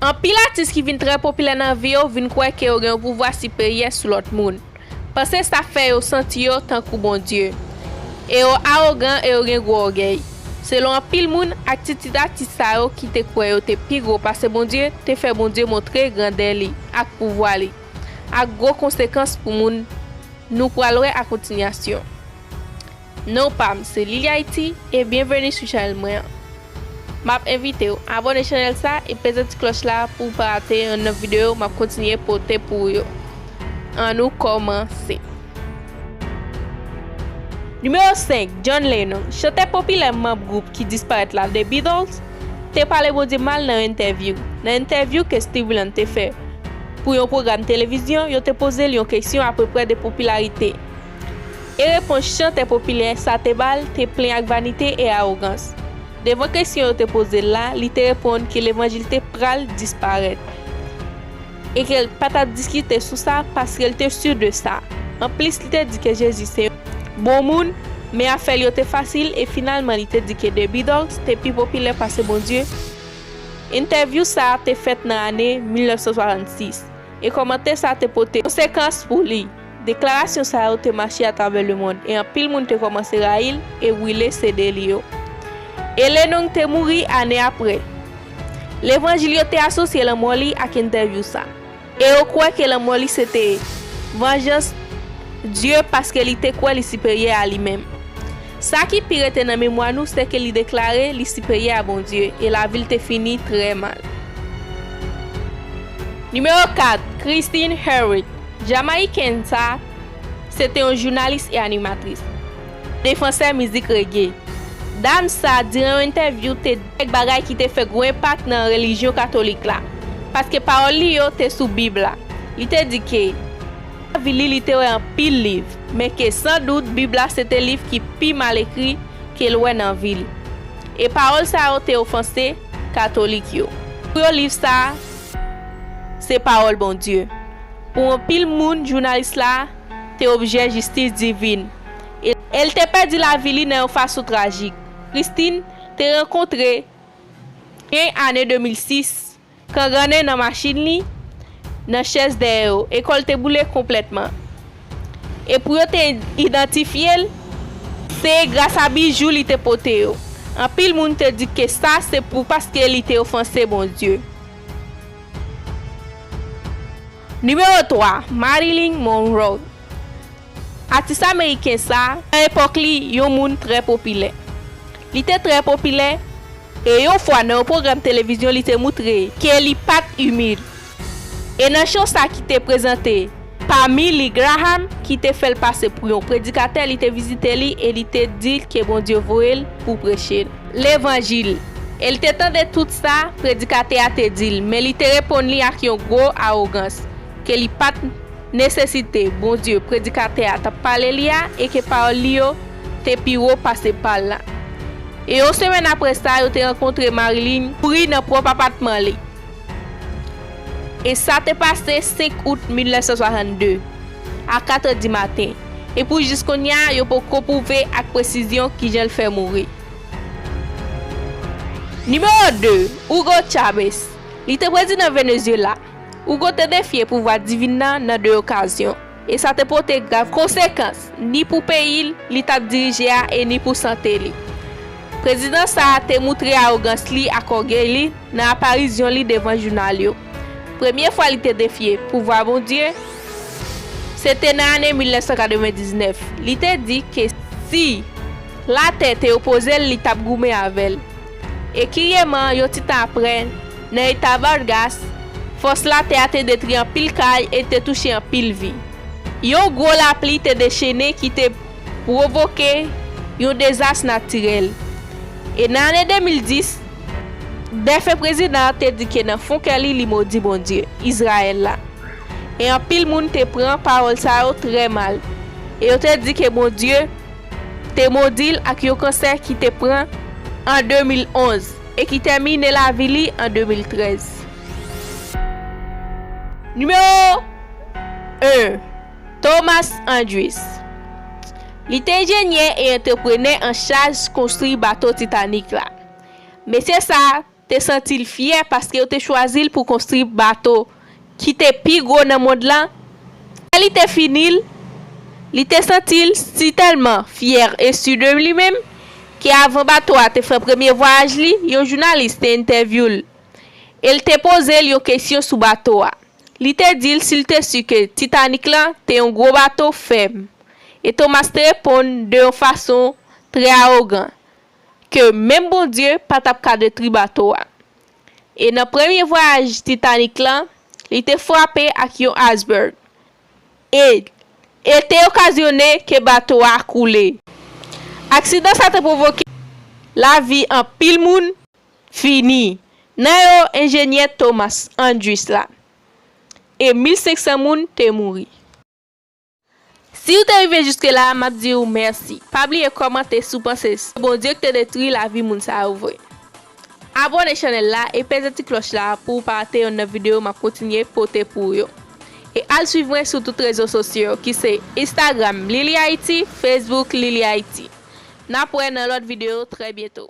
Anpil atis ki vin trè popilè nan vi yo vin kwè ke yo gen yon pouvwa siperyè sou lòt moun. Panse sa fè yo santi yo tankou Bondye. E yo awogan e yo gen gwo ògèy. Selon anpil moun, atitid atis sa yo ki te kwè yo te pi gwo pase Bondye te fè Bondye montre grandè li ak pouvwa li, ak gwo konsekans pou moun nou pral wè a kontinyasyon. Non pam se Lily Haiti e byenveni sou chanèl mwen an. Map envitew abone chanèl sa e peze ti klòch la pouw pa rate yon nòv videyo map kontinye pote pou ou yo. An nou kòmanse. Nimewo 5, John Lennon, chantè popilè manb gwoup ki disparèt la The Beatles, te pale Bondye mal nan yon entèvyou. Nan entèvyou ke Steve Winand te fè pou yon pwogram televizyon, yo te poze l yon keksyon apreprè de popilarite E repons chantè popilè sa te ba l te plen ak vanite e awogans. Devan kesyon yo te poze l la, li te reponn ke levanjil te pral disparèt e ke l pa t ap diskite sou sa paske l te si de sa. Anplis, li te di ke Jezi se yon bon moun, men afè l yo te fasil e finalman li te di ke The Beatles te pi popilè pase Bondye. Entèvyou sa a te fèt nan ane 1966, e kòmantè sa a te pote konsekans pou li. Deklarasyon sa yo te mache atravè lemond e anpil moun te kòmanse rayi l e wile CD li yo. E Lee Nung te mouri ane apre. Levanjil yo te asosye lanmò li ak entèvyou sa, e yo kwè ke lanmò li sete vanjans Dye paske li te kwè li siperyè a li menm. Sa ki pi rete nan memwa nou sèke li deklare li siperyè a Bondye e lavi l te fini trè mal. Nimewo 4, Christine Hurwitz. Jamayiken sa a se te yon jounalis e animatris, defansè mizik rege. Dam sa a, diran yon entèvyou, te di kèk bagay ki te fè gwo enpak nan relijyon katolik la, paske pawòl li yo te sou Bib la. Li te di ke nan lavi li, li te wè anpil liv, men ke san dout Bib la se te liv ki pi mal ekri ke l wè nan vi l. E pawòl sa yo te ofanse katolik yo. Pou yo liv sa a Se pawòl Bondye. Pou anpil moun, jounalis la te objè jistis divin e l te pèdi lavi li nan yon fason trajik. Christine te rankontre gen ane 2006 kangannen nan machin li, nan chèz dèyè yo e kò l te boule konplètman. E pou yo te idantifye l, se grasa bijou li te pote yo. Anpil moun te di ke sa se pou paske li te ofanse Bondye. Nimewo 3, Marilyn Monroe Atis ameriken sa, nan epòk li, yon moun trè popilè. Li te trè popilè, e yon fwa nan yon pwogram televizyon li te moutre ke li pat imil. E nan cho sa ki te prezante pa Milly Graham ki te fèl pase pou yon predikatè li te vizite li e li te dil ke Bondye voyel pou preche levanjil e li te tande tout sa predikatè a te dil men li te reponn li ak yon gwo awogans ke li pat nesesite Bondye predikatè a tap pale li a e ke pawòl li yo te pi wo pase pal la. E yon semèn aprè sa yo te rankontre Marilyn mouri nan pwòp apatman li. E sa te pase 5 out 1962, a katrè di maten, e pou jis kounye a yo poko pwouve ak presizyon kijan l fè mouri. Nimewo 2, Hugo Chavez. Li te prezidan Venezyela. Hugo te defye pouvwa divin nan nan 2 okazyon. E sa te pote grav konsekans, ni pou peyi li t ap dirije a e ni pou sante li. Prezidan sa a te moutre awogans li ak ògèy li nan aparizyon li devan jounal yo. Premye fwa li te defye pouvwa Bondye se te nan ane 1999. Li te di ke si latè te opoze l li t ap goumen avè l. E kiryeman, yon ti tan apre, Nan eta Vargas, fòs latè a te detri anpil kay e te touche anpil vi. Yon gwo lapli te dechene ki te pwovoke yon dezas natirèl. E nan ane 2010, defen prezidan an te di ke nan fon kè li, li modi Bondye, Izrayèl la. E anpil moun te pran pawòl sa yo trè mal, e yo te di ke Bondye te modi l ak yon kansè ki te pran an 2011. E ki tèmine lavi li an 2013. Nimewo 1, Thomas Andrews. Li te enjenyè e antreprenè an chaj konstri bato Titanic la. Mesye sa a te santi l fyè paske yo te chwazi l pou konstri bato. ki te pi gwo nan mond lan, lè li te fini l, li te santi l si tèlman fyè e si de li menm, ke avan bato a te fè premye vwayaj li, yon jounalis te entèvyou l, e l te poze l yon kesyon sou bato a. Li te di l si l te si ke Titanic lan te yon gwo bato fèm, e Thomas te reponn de yon fason trè awogan, ke menm Bondye pa t ap ka detri bato a. E nan premye vwayaj Titanic lan, li te frape ak yon iceberg, e e te okazyone ke bato a koule. Aksidan sa te pwovoke lavi anpil moun fini, nan yo enjenyè Thomas Andrews la, e 1500 moun te mouri. Siw te rive jiske la map diw merci pa bliye kòmante si w panse se Bondye ki te detwi lavi moun sa yo vre abòne chanèl la e peze ti klòch la pou w pa rate yonn nan video map kontinye pote pou w yo e al swiv mwen sou tout rezo sosyo ki se Instagram lilihaiti Facebook lilihaiti nap wè nan lòt video trè byento.